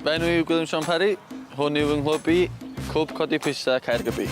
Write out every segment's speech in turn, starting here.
Fy enw yw Gwilym Sean Parry, hwn yw fy nghlwb i, Cwb Codi Pwysau Caergybi.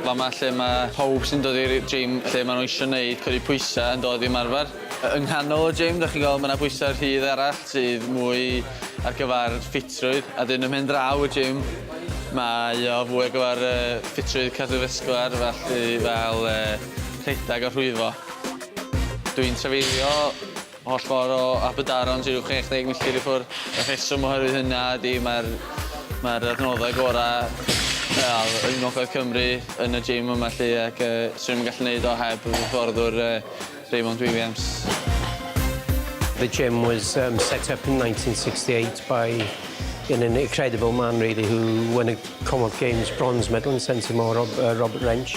Fama lle mae pawb sy'n dod i'r gym lle maen nhw eisiau gwneud codi pwysau yn dod i ymarfer. Yng nghanol y gym, da chi'n gweld, mae yna bwysau rhydd arall sydd mwy ar gyfer ffitrwydd. A dyn ymhen draw y gym, mae o fwy ar gyfer ffitrwydd cardiofascular, felly fel rhedeg a rhwyfo. Dw i'n trafeilio holl ffordd o Aberdaron sy ryw 60 milltir i ffwrdd. Y rheswm oherwydd hynna ydy mae'r mae'r adnoddau gorau wel, yng Ngogledd Cymru yn y gym yma lly ac uh, swn i'n gallu gwneud o heb fy hyfforddwr uh, Raymond Williams. The gym was um, set up in 1968 by an incredible man really who won a Commonwealth Games bronze medal in Sensimore, Rob, uh, Robert Wrench.